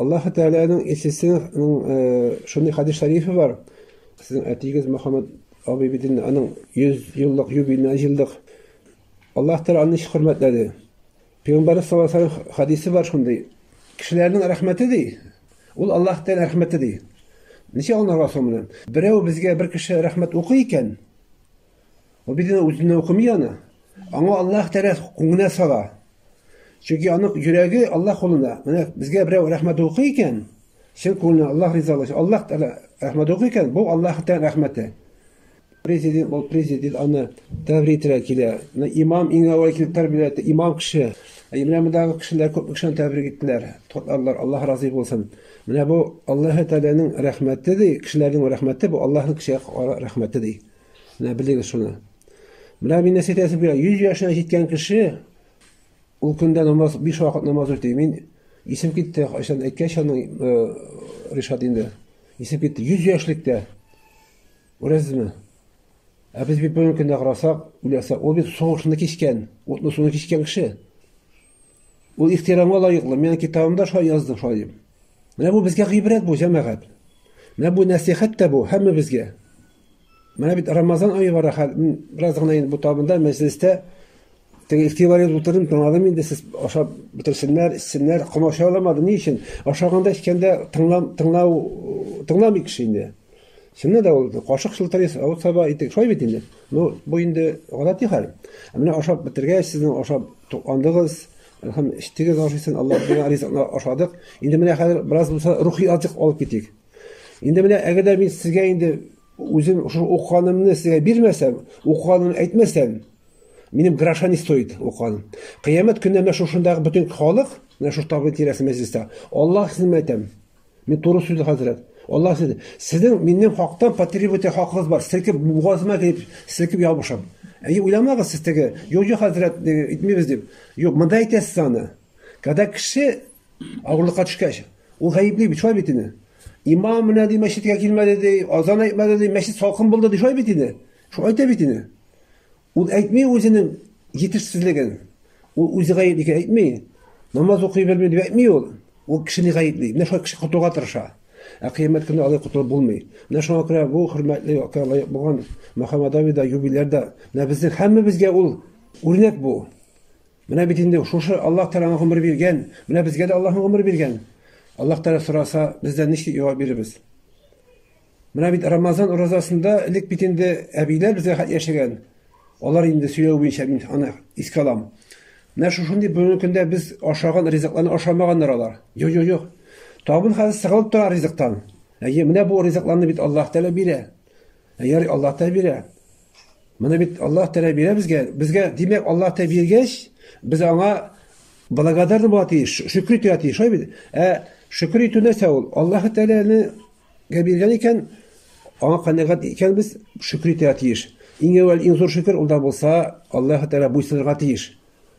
Аллаһ Тәгаләнең илчесенең шундый хадис шәрифе бар. Сезнең әтигез Мөхәммәд абый бит инде аның 100 еллык юбилеена җыелдык. Аллаһ Тәгалә аны ничек хөрмәтләде? Пәйгамбәрбез саллаллаху алейһи ва саллям хадисе бар шундый. Кешеләрнең рәхмәте ди, ул Аллаһ Тәгалә рәхмәте ди. Ничек аңларга соң моны? Берәү безгә бер кеше рәхмәт укый икән, Ул бит үзенә укымый аны. Аңа Аллаһ Тәгалә күңеле сала. Чөнки аның йөрәге Аллаһ кулында. Менә безгә берәү рәхмәт укый икән, чын күңелдән Аллаһ ризалыгы, Аллаһ Тәгалә рәхмәт укый икән, бу Аллаһ Тәгалә рәхмәте. Президент, ул президент аны тәбрик итәргә килә. Имам иң әүвәл килеп тәрбия итте, имам кеше. Менә мондагы кешеләр күп кешене тәбрик иттеләр. Тотларлар, Аллаһ разый булсын. Менә бу Аллаһ Тәгаләнең рәхмәте ди, кешеләрнең рәхмәте, бу Аллаһның кешегә рәхмәте ди. Менә белегез шуны. Менә мин нәсихәт әйтеп бирә. 100 яшенә җиткән кеше ул көндә намаз 5 вакыт намаз үти. Мин исем китте, кайчан әйткәч аның э, Ришат инде. Исем китте 100 яшьлектә. Күрәсезме? Ә без бит бүгенге көндә карасак, үләсә, ул бит сугышны кичкән, утлы суны кичкән кеше. Ул ихтирамга лаеклы. Мен китабымда шулай яздым, шулай дип. Менә бу безгә гыйбрәт бу, җәмәгать. Менә бу нәсихәт тә бу, һәммәбезгә. Менә бит Рамазан ае бара хәл. Бераз гына инде бу табында мәҗлестә теге ихтибар итеп утырдым, тыңладым инде сез ашап бетерсеннәр, эчсеннәр, комача аламады. Ни өчен? Ашаганда эчкәндә тыңлам, тыңлау, тыңламый кеше инде. Чыннан да ул кашык шылтырыйс, авыз саба итек, шулай бит инде. Ну, бу инде гадәти хәл. Ә менә ашап бетергәч, сезнең ашап тукландыгыз, һәм эчтегез ашыйсын, Аллаһ биргән ризыкны ашадык. Инде менә хәзер бераз булса рухи азык алып китик. Инде менә әгәр дә мин сезгә инде үзем шул укыганымны сезгә бирмәсәм, укыганымны әйтмәсәм, минем гроша не стоит укыганым. Кыямәт көнне менә шушындагы бөтен халык, менә шушы табын тирәсе мәҗлестә, Аллаһ сезне әйтәм. Мин туры сүз хәзрәт. Аллаһ сезне, сезнең минем хактан потребовать хакыгыз бар. Селкеп бугазыма килеп, селкеп ябышам. Әйе, уйламагыз сез теге, юк, юк, хәзрәт, итмибез дип. Юк, монда әйтәсез аны. Когда кеше Авырлыкка төшкәч, ул гаепли бит, шулай бит инде. Имам менә ди мәчеткә килмәде ди, азан әйтмәде ди, мәчет салкын булды ди, шулай бит инде. Шул әйтә бит инде. Ул әйтми үзенең җитешсезлеген. Ул үзе гаепли икән әйтми. Намаз укый белми дип әйтми ул. Ул кешене гаепли. Менә шулай кеше котылуга тырыша. Ә кыямәт көне алай котылып булмый. Менә шуңа күрә бу хөрмәтле якка лаек булган Мөхәммәд Авида юбилярда. Менә безнең һәммәбезгә ул үрнәк бу. Менә бит инде шушы Аллаһ Тәгаләнең гомер биргән, менә безгә дә Аллаһның гомер биргән. Аллаһ Тәгалә сораса, бездән ничек җавап бирербез? Менә бит Рамазан уразасында элек бит инде әбиләр безгә хәт яшәгән. Алар инде сөйләү буенча мин аны искә алам. Менә шушындый бүгенге көндә без ашаган ризыкларны ашамаганнар алар. Юк, юк, юк. Табын хәзер сыгылып тора ризыктан. Әйе, менә бу ризыкларны бит Аллаһ Тәгалә бирә. Әйе, Аллаһ Тәгалә бирә. Моны бит Аллаһ Тәгалә бирә безгә. Безгә, димәк, Аллаһ Тәгалә биргәч, без аңа благодарны була тиеш, шөкер итәргә тиеш, шулай бит? Ә шөкер итү нәрсә ул? Аллаһ Тәгаләне биргән икән, аңа канәгать икәнбез, шөкер итәргә тиеш. Иң әүвәл иң зур шөкер ул да булса, Аллаһ Тәгалә буйсынырга тиеш.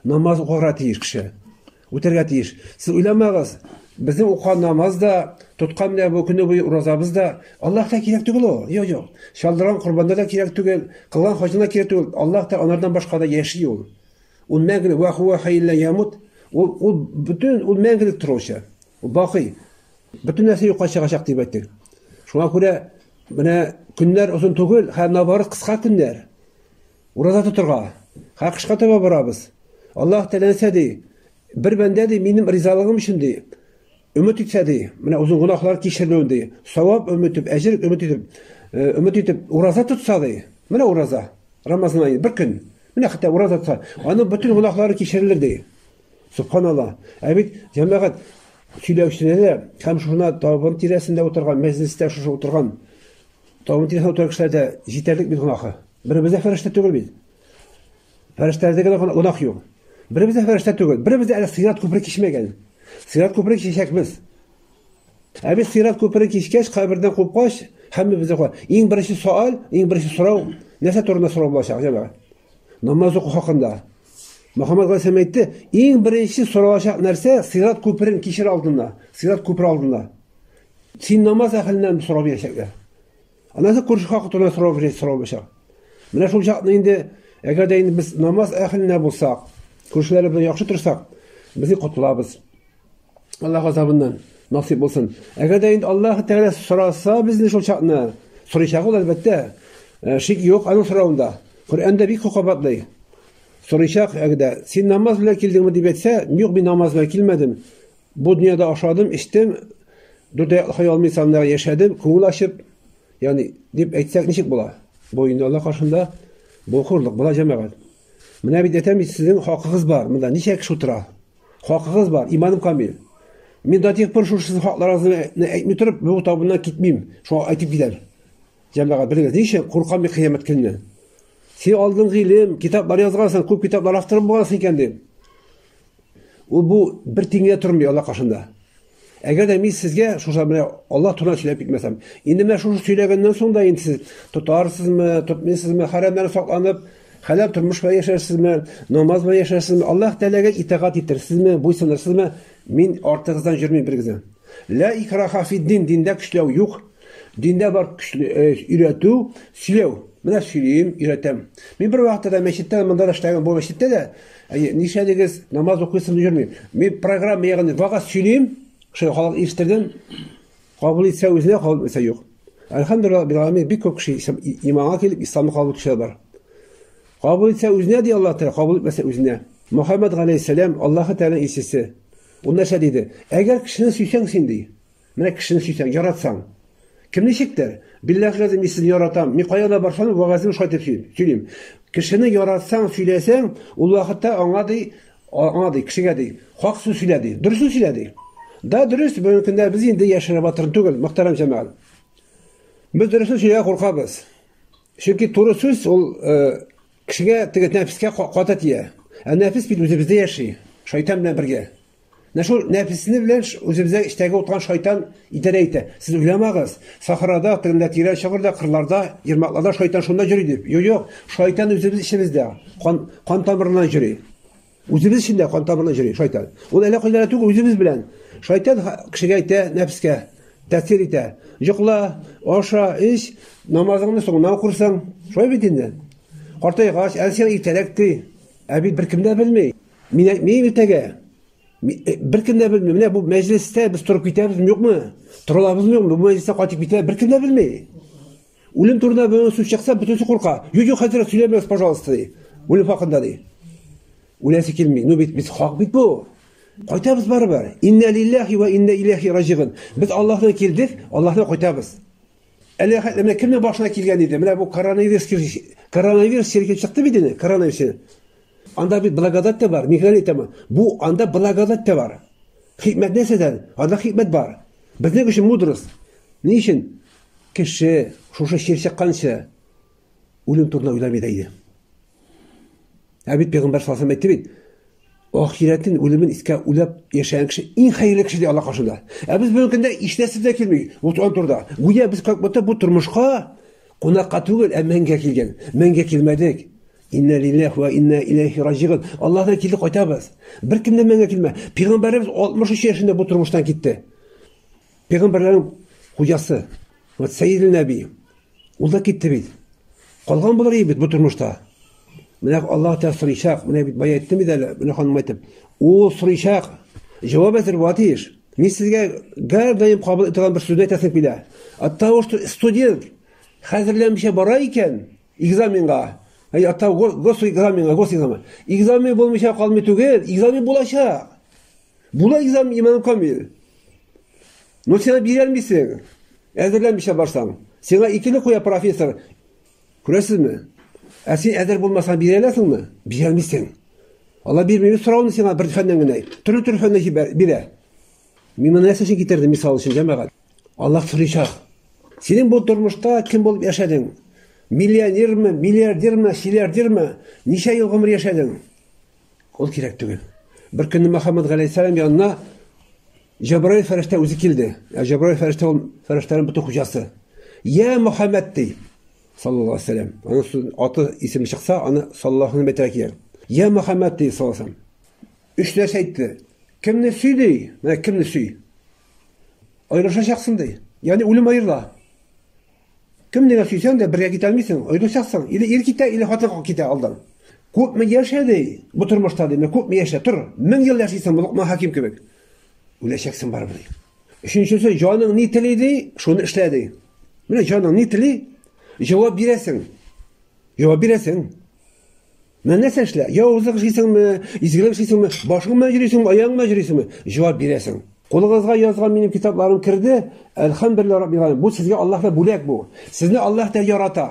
Намаз укырга тиеш кеше. Үтәргә тиеш. Сез уйламагыз, безнең укыган намаз да, тоткан менә бу көне буе уразабыз да, Аллаһка кирәк түгел ул. Юк, юк. Чалдырган корбаннар да кирәк түгел, кылган хаҗына кирәк түгел. Аллаһ та анардан башка да яши ул. Ул мәңгелек ва хуа хәйлә ямут. Ул ул бөтен ул мәңгелек торучы. Ул бакый. Бөтен нәрсә юкка чыгачак дип әйттек. Шуңа күрә менә көннәр озын түгел, һәм наоборот кыска көннәр. Ураза тотырга. Хакышка таба барабыз. Аллаһ теләсә ди, бер бәндә ди, минем ризалыгым өчен ди, өмет итсә ди, менә үзен гунахлар кичермәүен ди, савап өмет итеп, әҗер өмет итеп, э, өмет итеп, ураза тотса ди. Менә ураза. Рамазан айы бер көн. Менә хәтта ураза тотса, аның бөтен гунахлары кичерелер ди. Субханаллаһ. Ә бит җәмәгать сөйләүчеләре һәм шуна табын тирәсендә утырган, мәҗлестә шушы утырган, табын тирәсендә утырган кешеләрдә җитәрлек бит гунахы. Беребез дә фәрештә түгел бит. Фәрештәләрдә генә гөнаһ юк. Беребез дә фәрештә түгел. Беребез дә әле сират күпере кичмәгән. Сират күпере кичәкбез. Ә без сират күпере кичкәч, кабердән купкач, һәммәбез дә иң беренче сөаль, иң беренче сорау нәрсә турында сорау булачак, җәмәгать? Намаз уку хакында. Мөхәммәд Гайсәм әйтте, иң беренче соралачак нәрсә сират күперен кичер алдында, сират күпере алдында. Син намаз әхеленнән сорау бирәчәкләр. Аннан соң күрше хакы турында сорау бирә, сорау бирә. Менә шул чакны инде, әгәр дә инде без намаз әһелендә булсак, күршеләре белән яхшы торсак, безне котлабыз. Аллаһ газабыннан насыйп булсын. Әгәр дә инде Аллаһ Тәгалә сораса безне шул чакны, сорыйчак ул әлбәттә. Э, шик юк аның соравында. Коръәндә бик хокабатлый. Сорыйчак әгәр дә син намаз белән килдеңме дип әйтсә, юк, мин намаз белән килмәдем. Бу дөньяда ашадым, эчтем, дүртәй хай алмый саннар яшәдем, күңел ачып, ягъни дип әйтсәк ничек була? Бу инде Алла каршында бу хурлык була җәмәгать. Менә бит әйтәм бит сезнең хакыгыз бар, монда ничә кеше утыра? Хакыгыз бар, иманым камил. Мин да тик пор шул сезнең хакларыгызны әйтми торып, бу табыннан китмим. Шуңа әйтеп китәм. Җәмәгать белегез, ничә куркам бик кыямәт көнне. Син алдың гыйлем, китаплар язгансың, күп китаплар авторы булгансың икән дип. Ул бу бер тиңгә тормый Аллаһ каршында. Әгәр дә мин сезгә шуша менә Аллаһ турында сөйләп китмәсәм, инде менә шушы сөйләгәннән соң да инде сез тотарсызмы, тотмыйсызмы, хәрәмнән сакланып, хәләл тормыш белән яшәрсезме, намаз белән яшәрсезме, Аллаһ Тәгаләгә итагать итерсезме, буйсынырсызмы? Мин артыгыздан йөрмим бер генә. Ла икраха фиддин, диндә көчләү юк. Диндә бар көчле э, өйрәтү, сөйләү. Менә сөйлим, өйрәтәм. Мин бер вакытта да мәчеттә, монда да эшләгән, бу мәчеттә дә Әйе, нишәдегез, намаз укыйсым дип йөрмим. Мин программа ягын вагаз сөйлим, шул халык ишеттердем. Кабул итсә үзенә, кабул итсә юк. Әлхәмдулилла бил аламин бик күп кеше иманга килеп исламны кабул итүчеләр бар. Кабул итсә үзенә ди Аллаһ Тәгалә, кабул итмәсә үзенә. Мөхәммәд галәйһиссәлам Аллаһ Тәгалә илчесе. Ул нәрсә диде? Әгәр кешене сөйсәң син ди. Менә кешене сөйсәң, яратсаң. Кем ничектер? Билләһи газим, мин сезне яратам. Мин кая да барсам, вәгазьне шулай итеп сөйлим. Кешене яратсаң, сөйләсәң, ул вакытта аңа ди, аңа ди, кешегә ди, хак сүз сөйлә ди, дөрес сүз сөйлә ди. Да, дөрес, бүгенге көндә без инде яшереп атырын түгел, мөхтәрәм җәмәгать. Без дөресен сөйләргә куркабыз. Чөнки туры сүз ул э, кешегә теге нәфескә каты тия. Ә нәфес бит үзебездә яши, шайтан белән бергә. Менә шул нәфесне белән үзебездә эчтәге утырган шайтан идарә итә. Сез уйламагыз, сахрада, тегендә тирән чокырда, кырларда, ермакларда шайтан шунда йөри дип. Юк, юк, шайтан үзебез эчебездә, кан, кан тамырына йөри. Үзебез эчендә кан тамырына йөри шайтан. Ул әллә кайда түгел, үзебез белән. Шайтан кешегә әйтә, нәфескә тәэсир итә. Йокла, аша, эч, намазыңны соңыннан укырсың. Шулай бит инде. Картайгач, әлсә иртәрәк ди. Ә бит беркем дә белми. Мин әйтмим иртәгә. Э, Беркем дә белми. Менә бу мәҗлестә без торып китәбезме, юкмы? Торабызмы, юкмы? Бу мәҗлестә кайтып китә, беркем дә белми. Үлем турында бер сүз чыкса, бөтенесе курка. Юк, юк, хәзер сөйләмәгез, пожалуйста, ди. Үлем хакында ди. Үләсе килми. Ну бит без хак бит бу. Кайтабыз барыбер. Инна лиллахи ва инна иләхи раҗигын. Без Аллаһтан килдек, Аллаһтан кайтабыз. Әле хәтта менә кемнең башына килгән иде? Менә бу коронавирус коронавирус чиркеп чыкты бит инде, коронавирус. Анда бит благодать та бар, никогда әйтәмен. Бу анда благодать та бар. Хикмәт нәрсәдән? Анда хикмәт бар. Безнең өчен мудрость. Ни өчен? Кеше шушы чир чыкканча үлем турында уйламый да иде. Ә бит пәйгамбәр саллаллаху алейһи әйтте бит, ахирәтен үлемен искә үләп яшәгән кеше иң хәерле кеше ди Алла каршында. Ә без бүгенге көндә һичнәрсә дә килми. Вот он турда. Гүя без как будто бу тормышка Кунакка түгел, ә мәңгә килгән. Мәңгә килмәдек. Инна лилләһ ва инна иләйһи раҗигун. Аллаһка килдек, кайтабыз. Бер кем дә мәңгә килмә. Пәйгамбәребез 63 яшендә бу тормыштан китте. Пәйгамбәрләрнең хуҗасы. Вот Сәйидел Нәби. Ул да китте бит. Калган булыр бит бу тормышта. Менә Аллаһ Тәгалә сорыйчак, менә бит бай әйтте бит әле, менә ханым әйтеп. Ул сорыйчак. Җавап әзер була тиеш. Мин сезгә гәрдаем кабул итәгән бер сүзне әйтәсем килә. От того, что студент хәзерләмичә бара икән экзаменга, әй от того госэкзаменга, госэкзамен. Экзамен булмыйча калмый түгел, экзамен булачак. Була экзамен иман камил. Но сиңа бирәлмисең. Әзерләмичә барсаң. Сиңа икене куя профессор. Күрәсезме? Ә син әзер булмасаң бирә аласыңмы? Бирә алмыйсың. Алла бирми, үз сорауны сиңа бер фәннән генә. Төрле төрле фәннән җибәр, бирә. Мин моны нәрсә өчен китердем мисал өчен, җәмәгать. Алла сорыйчак. Синең бу тормышта кем булып яшәдең? Миллионерме, миллиардерме, силлиардерме? Ничә ел гомер яшәдең? Ул кирәк түгел. Бер көнне Мөхәммәд галәйһиссәлам янына Җәбраил фәрештә үзе килде. Ә Җәбраил фәрештә ул фәрештәнең бөтен хуҗасы. Я Мөхәммәд ди. Саллаллаһу алейһи вәсәлләм. Аның аты исеме чыкса, аны саллаллаһу алейһи мәтәлә килә. Я Мөхәммәд ди саллаллаһу алейһи Өч нәрсә әйтте. Кемне сөй ди? Менә кемне сөй? Аерылышачаксың ди. Ягъни үлем аерыла. Кемне генә сөйсәң дә, бергә китә алмыйсың. Оеклычаксың. Или ир китә, или хатын китә алдан. Күпме яшә, ди, бу тормышта, ди, күпме яшә, тор. Мең ел яшисең, бу Локман хәким кебек. Үләчәксең барыбер, ди. Өченчесе, җаның ни тели, ди, шуны эшлә, ди. Менә җаның ни тели, җавап бирәсең. Җавап бирәсең. Менә нәрсә эшлә, явызлык эшлисеңме, изгелек эшлисеңме, башың белән йөрисеңме, аягың белән йөрисеңме, җавап бирәсең. Кулыгызга язган минем китапларым керде, әлхәмдүлилләһ раббил галәмин. Бу сезгә Аллаһтан бүләк бу. Сезне Аллаһ Тәгалә ярата.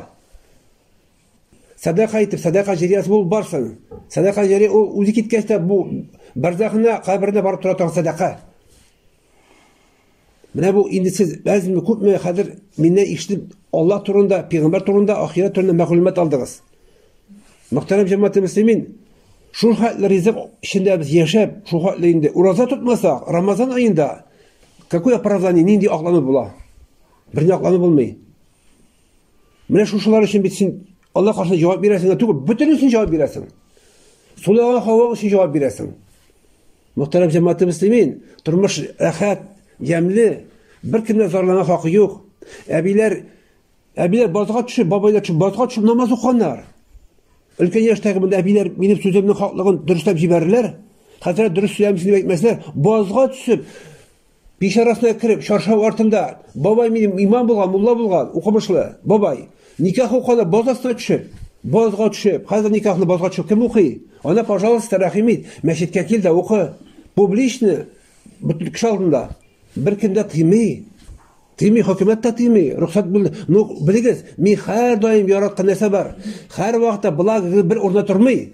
Садака итеп, садака җәриясе булып барсын. Садака җәрия ул үзе киткәч тә бу барзахына, каберенә барып тора торган садака. Менә бу инде сез әзме күпме хәзер миннән ишетеп Алла турында, пәйгамбер турында, ахирәт турында мәгълүмат алдыгыз. Мөхтәрәм җәмәгать мөслимин, шул хәтле ризык эчендә без яшәп, шул хәтле инде ураза тотмасак, Рамазан аенда какое оправдание, нинди аклану була? Бер ни аклану булмый. Менә шушылар өчен бит син Алла каршында җавап бирәсең, түгел, бөтен өчен җавап бирәсең. Сулага һава өчен җавап бирәсең. Мөхтәрәм җәмәгате мөслимин, тормыш рәхәт, ямьле, беркемнән зарлана хакы юк. Әбиләр әбиләр базга төшеп, бабайлар төшеп базга төшеп намаз укыганнар. Өлкән яшьтәге монда әбиләр минем сүземнең хаклыгын дөрестәп җибәрерләр. Хәзрәт дөрес сөйләмисез дип әйтмәсләр. Базга төшеп Пич арасына кереп, чаршау артында, бабай минем имам булган, мулла булган, укымышлы, бабай. Никах укана боз астына төшеп, бозга төшеп, хәзер никахны бозга төшеп кем укый? Ана, пожалуйста, рәхим ит, мәчеткә кил дә укы. Публичны, бөтен кеше алдында. Бер кем дә тыймый. Тыймый, хөкүмәт тә тыймый. Рөхсәт бүл. Ну, белегез, мин һәрдаим яраткан нәрсә бар. Һәрвакытта благо бер урында тормый.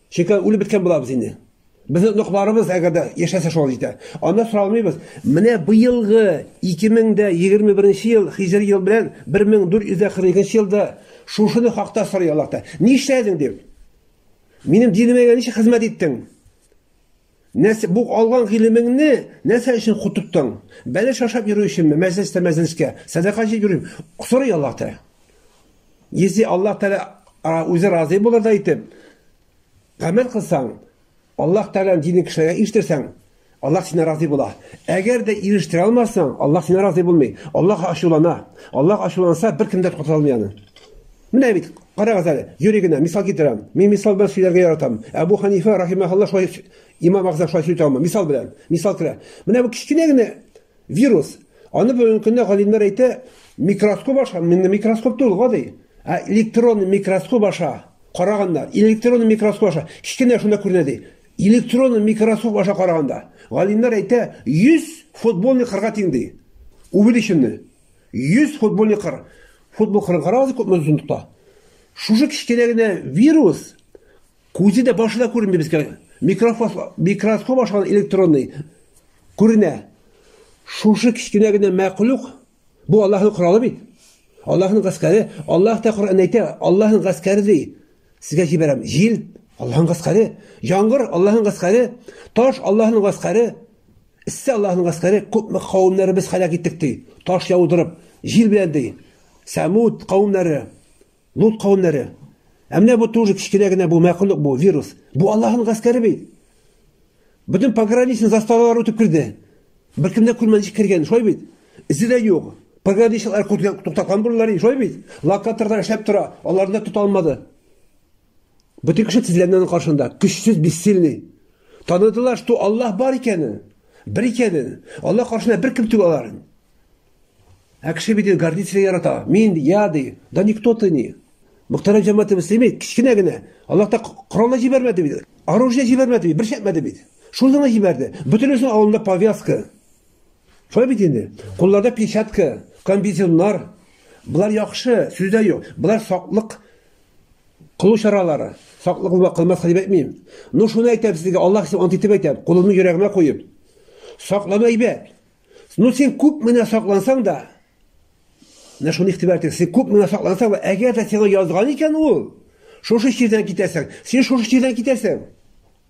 Чөнки үлеп беткән булабыз инде. Безнең оныкларыбыз әгәр дә яшәсә шулай җитә. Анда соралмыйбыз. Менә быелгы 2021 ел хиҗри ел белән 1442 елда шушыны хакта сорый Аллаһта. Нишләдең дип? Минем динемә ничек хезмәт иттең? Нәрсә, бу алган гыйлемеңне нәрсә өчен кутыктың? Бәлеш ашап йөрү өченме? Мәҗлестә мәҗлескә сәдака җыеп йөрим. Сорый Аллаһ Тәгалә. Если Аллаһ Тәгалә үзе разый булырдай итеп гамәл кылсаң, Аллаһ Тәгаләнең динен кешеләргә ишетсәң, Аллаһ сине разый була. Әгәр дә ирештә алмасаң, Аллаһ сине разый булмый. Аллаһ ачулана. Аллаһ ачуланса, бер кем дә туктата алмый аны. Менә бит, карагыз әле, юри генә, мисал китерәм. Мин мисал белән сөйләргә яратам. Әбу Ханифа, рахимахалла, шулай имам агыза шулай сөйләтә алмый. Мисал белән, мисал керә. Менә бу кечкенә генә вирус. Аны бүгенге көндә галимнәр әйтә, микроскоп аша, менә микроскоп түгел, гади. Ә электрон микроскоп аша караганнар. Электрон микроскоп аша кечкенә шунда күренә ди. Электрон микроскоп аша караганда, галимнәр әйтә, 100 футболный кырга тиң ди. Увеличенный. 100 футбольный кыр. Футбол кырын карагыз, күпме озын тота. Шушы кечкенә генә вирус күзе дә башы да күренми безгә. Микроскоп, микроскоп ашаган электронный күренә. Шушы кечкенә генә мәхлук бу Аллаһның коралы бит. Аллаһның гаскәре, Аллаһ та Коръән әйтә, Аллаһның гаскәре ди. Сезгә җибәрәм. Җил, Аллаһның гаскәре, яңгыр, Аллаһның гаскәре, таш, Аллаһның гаскәре. Эссе Аллаһының гаскәре күпме кавемнәре без һәлак иттек, ди, таш яудырып, җил белән, ди. Сәмүд кавемнәре, Лут кавемнәре. Ә менә бу тоже кечкенә генә бу мәхлук бу вирус. Бу Аллаһының гаскәре бит. Бөтен пограничный заставалар үтеп керде. Беркем дә күрмәде ничек кергән, шулай бит. Эзе дә юк. Пограничниклар туктаткан булалар, шулай бит. Локаторлар эшләп тора, аларны да тота алмады. Бөтен кеше тезләннән каршында, көчсез, бессильный. Таныдылар, что Аллаһ бар икәнен, бер икәнен. Аллаһ каршында бер кем түгел алар. Ә кеше бит гордитель ярата. Мин, я, ди, да никто ты не. Мөхтәрәм җәмәгате мөслими, кечкенә генә. Аллаһ та коралны җибәрмәде бит. Оружие җибәрмәде бит, бер шәпмәде бит. Шул гына җибәрде. Бөтенесен алында повязка. Шулай бит инде. Кулларда печатка, комбинезоннар. Болар яхшы, сүздә юк. Болар саклык Кылу чаралары. Саклы кылма, кылмаска дип әйтмим. Ну, шуны әйтәм сезгә, Аллаһ өчен ант итеп әйтәм, кулымны йөрәгемә куеп. Саклану әйбәт. Ну, син күп менә саклансаң да, менә шуны игътибар итегез, син күп менә саклансаң да, әгәр дә сиңа язган икән ул, шушы чирдән китәсең, син шушы чирдән китәсең.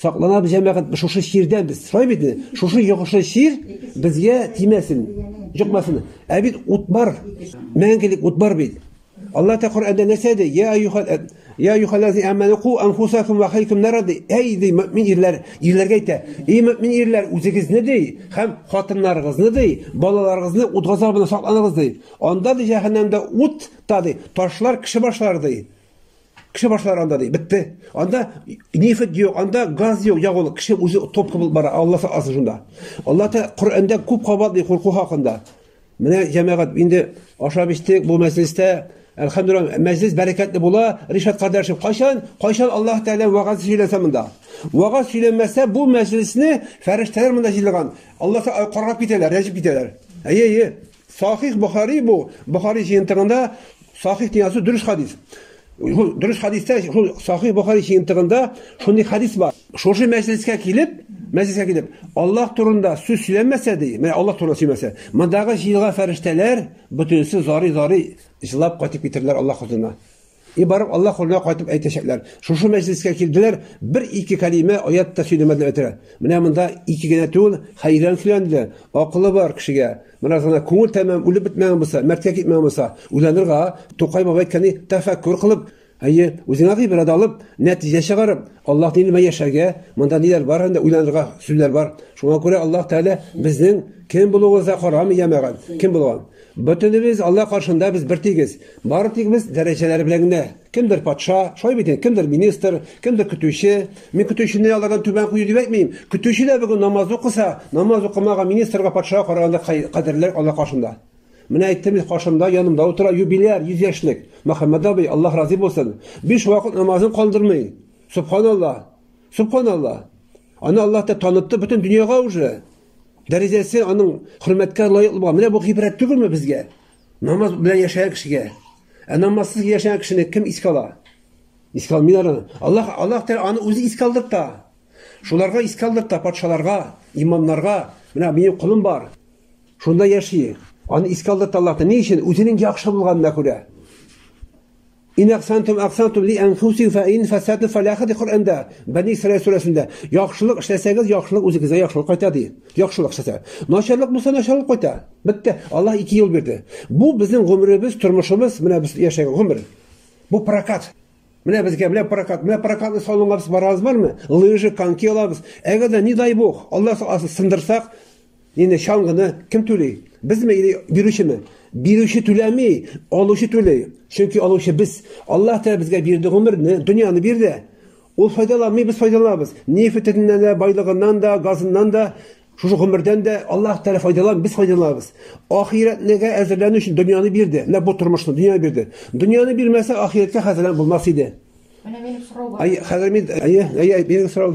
Сакланабыз җәмәгать, шушы чирдән без сорай бит инде. Шушы йогышлы чир безгә тимәсен, җыкмасын. Ә бит ут бар. Мәңгелек ут бар бит. Алла та Коръәндә нәрсә ди? Я аюхал Я юхалази аману ку анфусакум ва халикум нарады. Әй ди мөмин ирләр, ирләргә әйтә. Эй мөмин ирләр, үзегезне ди, һәм хатыннарыгызны ди, балаларыгызны ут газабына сакланыгыз ди. Анда ди җәһәннәмдә ут та ди, ташлар кеше башлар ди. Кеше башлар анда ди, бетте. Анда нефть юк, анда газ юк, я ул кеше үзе топ кылып бара, Алла сакласын шунда. Алла та Коръәндә күп кабат ди курку хакында. Менә җәмәгать инде ашап эчтек бу мәҗлестә. Әлхәмдулилла, мәҗлес бәрәкәтле була. Ришат кардәшев, кайчан, кайчан Аллаһ Тәгалә вагаз сөйләсә монда. Вагаз сөйләмәсә бу мәҗлесне фәрештәләр монда җыелган. Аллаһ карап китәләр, рәҗеп китәләр. Әйе, әйе. Сахих Бохари бу, Бохари җыентыгында Сахих дигән сүз дөрес хадис. Шул дөрес хадистә, шул Сахих Бохари җыентыгында шундый хадис бар. Шушы мәҗлескә килеп, мәҗлескә килеп, Аллаһ турында сүз сөйләмәсә ди, менә Аллаһ турында сөйләмәсә, мондагы җыелган фәрештәләр бөтенесе зары-зары җылап кайтып китерләр Аллаһ хозурына. И барып Аллаһ кулына кайтып әйтәчәкләр. Шушы мәҗлескә килделәр, бер-ике кәлимә, аят та сөйләмәделәр бетерә. Менә монда ике генә түгел, хәйран сөйләнде. Акылы бар кешегә. Менә гына күңел тәмам үлеп бетмәгән булса, мәрткә китмәгән булса, уйланырга, Тукай бабай әйткәни, тәфәккүр кылып, әйе, үзеңә гыйбрәт алып, нәтиҗә чыгарып, Аллаһ динемә яшәргә, монда ниләр бар анда уйланырга сүзләр бар. Шуңа күрә Аллаһ Тәгалә безнең кем булуыбызга карамый, җәмәгать, кем булган. Бөтенебез Алла каршында без бертигез. Бары тик без дәрәҗәләр белән генә. Кемдер патша, шулай бит инде, кемдер министр, кемдер көтүче. Мин көтүчене алардан түбән кую дип әйтмим. Көтүче дә бүген намаз укыса, намаз укымаган министрга, патшага караганда кадерлерәк Алла каршында. Менә әйттем бит, каршымда, янымда утыра юбиляр, 100 яшьлек. Мөхәммәд абый, Аллаһ разый булсын. Биш вакыт намазын калдырмый. Субханалла. Субханалла. Аны Аллаһ дип танытты бөтен дөньяга уже. Дәрәҗәсе аның хөрмәткә лаек булган. Менә бу гыйбрәт түгелме безгә? Намаз белән яшәгән кешегә. Ә намазсыз яшәгән кешене кем искә ала? Искә алмыйлар аны. Аллаһ Аллаһ Тәгалә аны үзе искә алдырта. Шуларга искә алдырта патшаларга, имамнарга. Менә минем кулым бар. Шунда яши. Аны искә алдырта Аллаһ. Ни өчен? Үзенең яхшы булганына күрә. Ин әхсантум әхсантум ли әнфусихум фә ин фәсәтү фәлә хәди Коръәндә, Бәни Исраил сүрәсендә, яхшылык эшләсәгез, яхшылык үзегезгә яхшылык кайта ди. Яхшылык эшләсә. Начарлык булса, начарлык кайта. Бетте. Аллаһ ике юл бирде. Бу безнең гомеребез, тормышыбыз, менә без яшәгән гомер. Бу прокат. Менә безгә менә прокат, менә прокатны салонга без барабыз бармы? Лыжи, коньки алабыз. Әгәр дә, не дай бог, Аллаһ сындырсак, Инде чаңгыны кем түли? Безме или бирүчеме? Бирүче түләми, алучы түли. Чөнки алучы без. Аллаһ Тәгалә безгә бирде гомерне, дөньяны бирде. Ул файдаланмый, без файдаланабыз. Нефтеннән дә, байлыгыннан да, газыннан да, шушы гомердән дә Аллаһ Тәгалә файдалан, без файдаланабыз. Ахирәтнегә әзерләнү өчен дөньяны бирде. Менә бу тормышны дөньяны бирде. Дөньяны бирмәсә, ахирәткә хәзерләнеп булмас иде. Менә минем сорау бар. Ай, хәзер мин, әйе, әйе, минем сорау.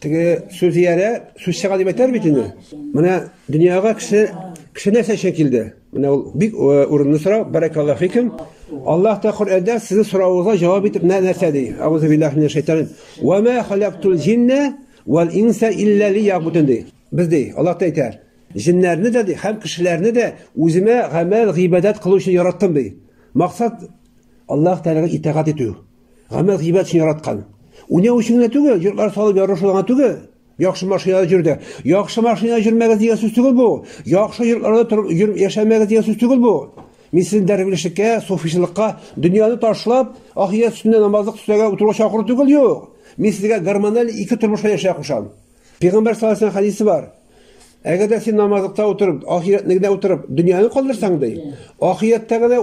Теге сүзиярә сүз чыга дип әйтәр бит инде. Менә дөньяга кеше кеше нәрсә өчен килде? Менә ул бик э, урынлы сорау. Баракаллаһу фикум. Аллаһ та Коръәндә сезнең соравыгызга җавап итеп нәрсә ди? Аузу биллаһи минәш шайтанин. Ва ма халактул җинна вал инса илля лиябудун ди. Без ди, Аллаһ та әйтә. Җиннәрне дә ди, һәм кешеләрне дә үземә гамәл, гыйбадәт кылу өчен яраттым ди. Максат Аллаһ Тәгаләгә итагать итү. Гамәл гыйбат өчен яраткан. Уйнау өчен генә түгел, йортлар салып ярышу гына түгел. Яхшы машинада йөр дә. Яхшы машинада йөрмәгез дигән сүз түгел бу. Яхшы йортларда торып йөр, яшәмәгез дигән сүз түгел бу. Мин сезне дәрвишлеккә, суфичылыкка, дөньяны ташлап, ахирәт өстендә намазлык төсләргә утыруга чакыру түгел, юк. Мин сезгә гормональ ике тормышка яшәргә кушам. Пәйгамбәр саллаллаху алейһи хәдисе бар. Әгәр дә син намазлыкта утырып, ахирәтне генә утырып, дөньяны калдырсаң, ди, ахирәттә генә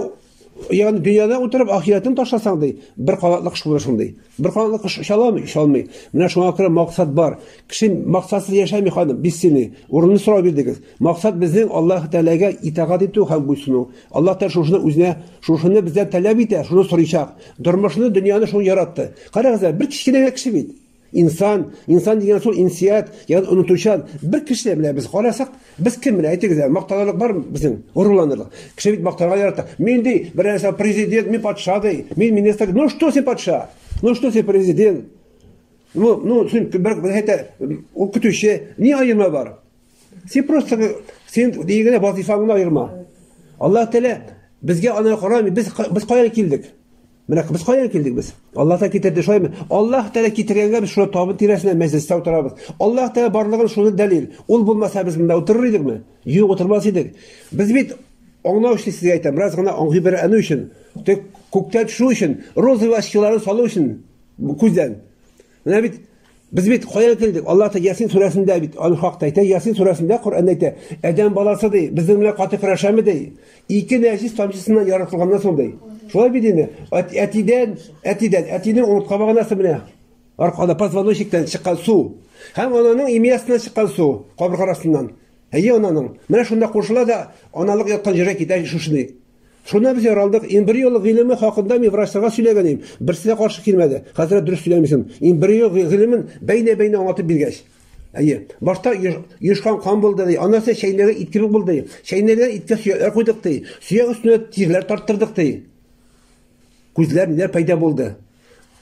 Ягъни дөньяда утырып ахирәтен ташласаң ди, бер канатлы кош булыр шундый. Бер канатлы кош оча аламый, оча алмый. Менә шуңа күрә максат бар. Кеше максатсыз яшәми ханым, бессильный. Урынны сорау бирдегез. Максат безнең Аллаһ Тәгаләгә итагать итү һәм буйсыну. Аллаһ Тәгалә шушыны үзенә, шушыны бездән таләп итә, шуны сорыйчак. Тормышны, дөньяны шуны яратты. Карагыз, бер кечкенә кеше бит. Инсан, инсан дигән шул инсият, ягъни онытучан бер кеше менә без карасак, без кем менә әйтегез әле, мактанырлык бармы безнең? Горурланырлык. Кеше бит мактарга ярата. Мин ди, бер нәрсә президент, мин патша ди, мин министр. Ну что син патша? Ну что син президент? Ну, ну, син бер әйтә, ул көтүче, ни аерма бар? Син просто син дигәндә вазифаңны аерма. Аллаһ Тәгалә безгә аны карамый, без без каян килдек? Менә без каян килдек без? Аллаһ та китерде, шулаймы? Аллаһ Тәгалә китергәнгә без шуны табын тирәсенә мәҗлестә утырабыз. Аллаһ Тәгалә барлыгын шуны дәлил. Ул булмаса без монда утырыр идекме? Юк, утырмас идек. Без бит аңлау өчен сезгә әйтәм, бераз гына аңгый бер әну өчен, тек күктә төшү өчен, розовый очкиларын салу өчен күздән. Менә бит Без бит кая килдек? Алла Тәгалә Ясин сүрәсендә бит аны хакта әйтә. Ясин сүрәсендә Коръәндә әйтә. Адәм баласы ди, безнең белән каты көрәшәме ди? Ике нәҗис тамчысыннан яратылганнан соң ди. Шулай бит инде. Әтидән, әтидән, әтинең умыртка баганасы менә. Аркада позвоночниктан чыккан су. Һәм ананың имиясеннән чыккан су, кабырга арасыннан. Әйе, ананың. Менә шунда кушыла да аналык яткан җиргә китә шушыны. Шунда без яралдык. Эмбрио гыйлеме хакында мин врачларга сөйләгән идем. Берсе дә каршы килмәде. Хәзрәт дөрес сөйләмисең. Эмбрио гыйлемен бәйнә-бәйнә аңлатып биргәч. Әйе. Башта ешкан кан булды ди. Аннан соң чәйнәгә ит кебек булды. Чәйнәгә иткә сөякләр куйдык ди. Сөяк өстенә тирләр тарттырдык ди. Күзләр ниләр пайда булды?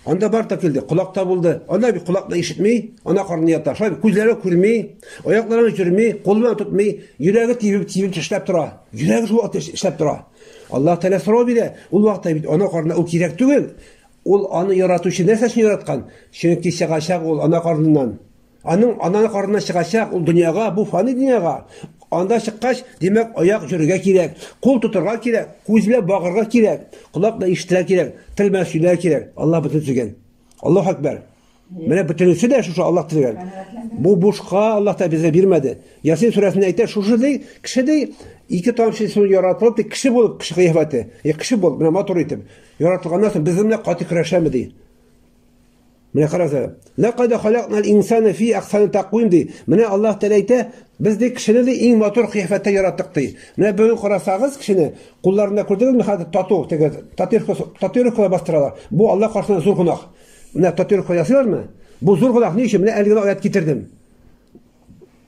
Анда бар да килде, колакта булды. Анда бит колакны ишетми, ана карны ята. Шулай күзләре күрми, аяклары җөрми, куллары тотмый, йөрәге тибеп тибеп эшләп тора. Йөрәге шул вакытта эшләп тора. Аллаһ Тәгалә сорау бирә, ул вакытта бит ана карны ул кирәк түгел. Ул аны яратучы нәрсәсен яраткан? Чөнки чыгачак ул ана карныннан. Аның ана карынына чыгачак ул дөньяга, бу фани дөньяга. Анда чыккач, димәк, аяк җөрергә кирәк, кул тотарга кирәк, күз белән багырга кирәк, колак белән ишетергә кирәк, тел белән сөйләргә кирәк. Аллаһ бөтен сөйгән. Аллаһ акбар. Менә бөтенесе дә шушы Аллаһ төзегән. Бу бушка Аллаһ та безгә бирмәде. Ясин сүрәсендә әйтә, шушы ди, кеше ди, ике тамчы су яратылып, ди, кеше булып, кеше кыяфәте. Е, кеше булып, менә матур итеп. Яратылганнан соң без менә каты көрәшәме ди. Менә карагыз әле. Ләкъәд халакнал инсана фи ахсани тәкъвим ди. Менә Аллаһ Тәгалә әйтә, без ди кешене ди иң матур кыяфәттә яраттык ди. Менә бүген карасагыз кешене, кулларында күрдегезме хәзер тату, теге татуировкалар бастыралар. Бу Аллаһ каршында зур гунах. Менә татуировка ясыйлармы? Бу зур гунах ни өчен? Менә әле генә аят китердем.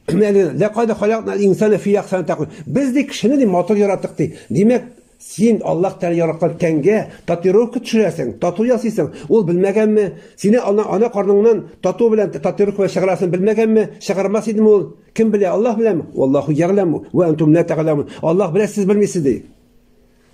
Менә әле генә ләкъәд халакнал инсана фи ахсани тәкъвим. Без ди кешене ди матур яраттык ди. Димәк, Син Аллаһ Тәгалә яраткан тәнгә татуировка төшерәсең, тату ясыйсың. Ул белмәгәнме? Сине ана, ана карныңнан тату белән татуировка чыгарасын белмәгәнме? Чыгармас идеме ул? Кем белә? Аллаһ беләме? Валлаху ягламу ва антум ла тәгаләмун. Аллаһ белә, сез белмисез ди.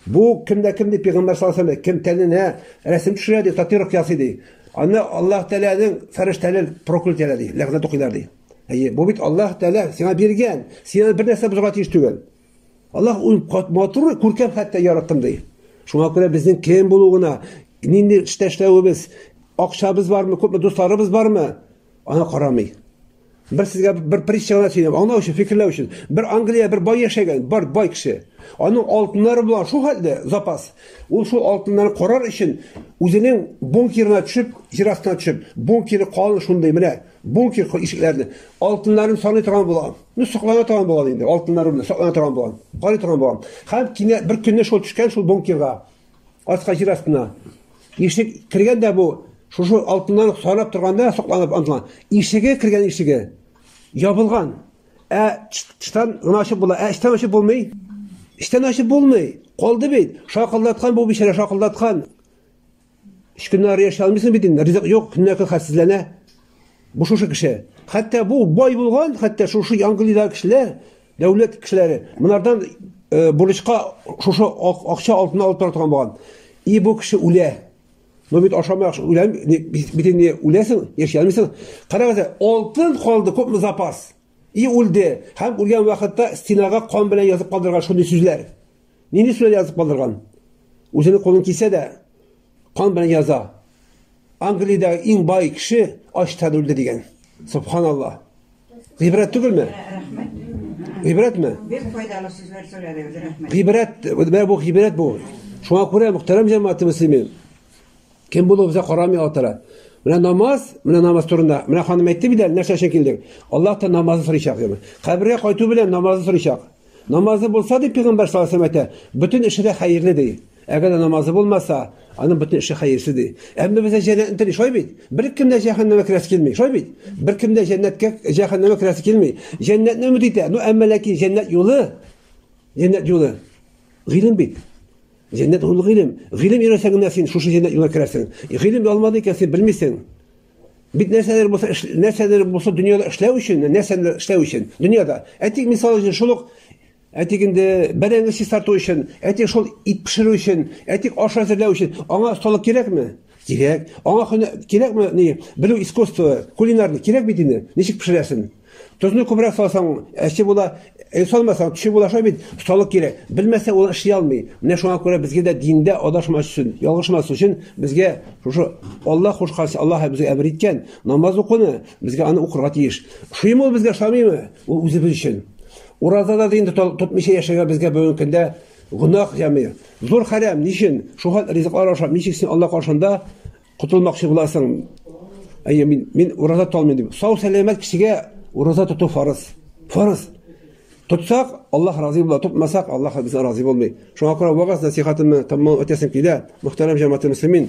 Бу кемдә кем ди пәйгамбер саллаллаһу алейһи кем тәненә рәсем төшерә ди, татуировка ясый ди. Аны Аллаһ Тәгаләнең фәрештәләр проклят итә ди, ләгънәт укыйлар ди. Әйе, бу бит Аллаһ Тәгалә сиңа биргән. Сиңа бер нәрсә бозарга тиеш түгел. Аллаһ ул матур, күркәм хәтта яраттым ди. Шуңа күрә безнең кем булуына, нинди эштә эшләвебез, акчабыз бармы, күпме дусларыбыз бармы, ана карамый. Бер сезгә бер притча гына сөйләп, аңлау өчен, фикерләү өчен. Бер Англия бер бай яшәгән, бар бай кеше. Аның алтыннары булган шул хәлдә запас. Ул шул алтыннарны карар өчен үзенең бункерына төшеп, җир астына төшеп, бункеры калын шундый менә, бункер ишекләрне, алтыннарын саный торган булган. Ну, соклана торган булган инде, алтыннар рубля, соклана торган булган. Карый торган булган. Хәм кинә бер көнне шул төшкән шул бункерга. Аска җир астына. Ишек кергән дә бу, шушы алтыннан сарап торганда сокланып антла. Ишеге кергән ишеге ябылган. Ә чтан гына ачып була, ә чтан ачып булмый. Чтан ачып булмый. Калды бит. Шакылдаткан бу бичара, шакылдаткан. Өч көннән ары яши алмыйсың бит инде, ризык юк, көннәр көн хәлсезләнә. Бу шушы кеше. Хәтта бу бай булган, хәтта шушы Англиядә кешеләр, дәүләт кешеләре, монардан э, бурычка шушы акча алтын алып тора торган булган. И бу кеше үлә. Ну бит ашамай үләм, бит инде үләсең, яши алмыйсың. Карагыз, алтын калды, күпме запас. И үлде. Һәм үлгән вакытта стенага кан белән язып калдырган шундый сүзләр. Нинди сүрә язып калдырган? Үзенең кулын кисә дә, кан белән яза. Англиядә иң бай кеше ачтан үлде дигән. Субханалла. Гыйбрәт түгелме? Гыйбрәтме? Бик файдалы сүзләр сөйләдегез, рәхмәт. Гыйбрәт, менә бу гыйбрәт бу. Шуңа күрә мөхтәрәм җәмәгать мөслимин. Кем булуыбызга карамый Аллаһ Тәгалә. Менә намаз, менә намаз турында. Менә ханым әйтте бит әле, нәрсә өчен килдек? Аллаһ та намазны сорыйчак, диде. Кабергә кайту белән намазны сорыйчак. Намазы булса, ди пигамбәр саллаллаһу алейһи әйтә, бөтен эше дә хәерле ди. Әгәр дә намазы булмаса, аның бөтен эше хәерсез ди. Әмма бездә җәннәтне тели, шулай бит? Беркем дә җәһәннәмгә керәсе килми, шулай бит? Беркем дә җәннәткә, җәһәннәмгә керәсе килми. Җәннәтне өмет итә. Ну, әмма ләкин җәннәт юлы, җәннәт юлы гыйлем бит. Җәннәт ул гыйлем. Гыйлем өйрәнсәң генә син шушы җәннәт юлына керәсең. Гыйлем алмадың икән, син белмисең. Бит нәрсәдер булса, нәрсәдер булса дөньяда эшләү өчен, нәрсәдер эшләү өчен дөньяда. Әтик мисал өчен шул ук әтик инде бәрәңге чистарту өчен, әтик шул ит пешерү өчен, әтик аш әзерләү өчен аңа осталык кирәкме? Кирәк. Аңа кирәкме ни? Белү искусство, кулинарный кирәк бит инде. Ничек пешерәсен? Тозны күбрәк салсаң, әче була, э, салмасаң, төче була шулай бит. Салык кирәк. Белмәсә, ул эшли алмый. Менә шуңа күрә безгә дә диндә адашмас өчен, ялгышмас өчен безгә шушы Аллаһ кушкан, Аллаһ безгә әмер иткән намаз укуны, безгә аны укырга тиеш. Шуймы ул безгә шамыймы? Ул үзебез өчен. Уразада да инде тотмыйча яшәгән безгә бүгенге көндә гөнаһ ями. Зур хәрәм, ничен? Шул хәл ризыклар ашап, ничек син Аллаһ каршында Котылмакчы буласың. Әйе, мин, мин ураза тоталмыйм дип. Сау сәламәт кешегә ураза тоту фарыз. Фарыз. Тотсак, Аллаһ разый була, тотмасак, Аллаһ бездән разый булмый. Шуңа күрә вагаз насихатымны тәмам үтәсем килә. Мөхтәрәм җәмәгать мөслимин,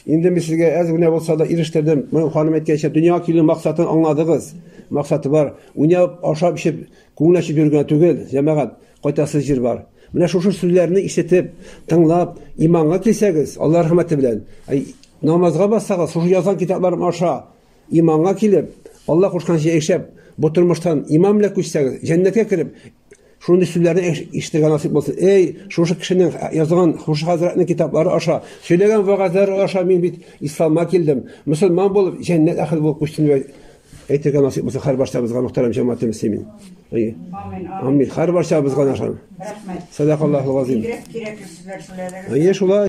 инде мин сезгә әз генә булса да ирештердем. Моның ханым әйткәнчә, дөньяга килү максатын аңладыгыз. Максаты бар. Уйнап, ашап, эчеп, күңел ачып йөргән түгел, җәмәгать. Кайтасы җир бар. Менә шушы сүзләрне ишетеп, тыңлап, иманга килсәгез, Алла рәхмәте белән, намазга бассагыз, шушы язган китапларым аша иманга килеп, Алла кушканча яшәп, бу тормыштан иман белән күчсәгез, җәннәткә кереп, шундый сүзләрне ишетергә насыйп булсын. Эй, шушы кешенең язган шушы хәзрәтнең китаплары аша, сөйләгән вәгазьләре аша мин бит исламга килдем. Мөселман булып, җәннәт әхел булып күчтем Әйтергә насыйп булса һәр барчабызга мөхтәрәм җәмәгате мөслимин. Амин. Амин. Һәр барчабызга нашан. Рәхмәт. Садакаллаху газим. Бигрәк кирәкле сүзләр сөйләдегез. Әйе, шулай.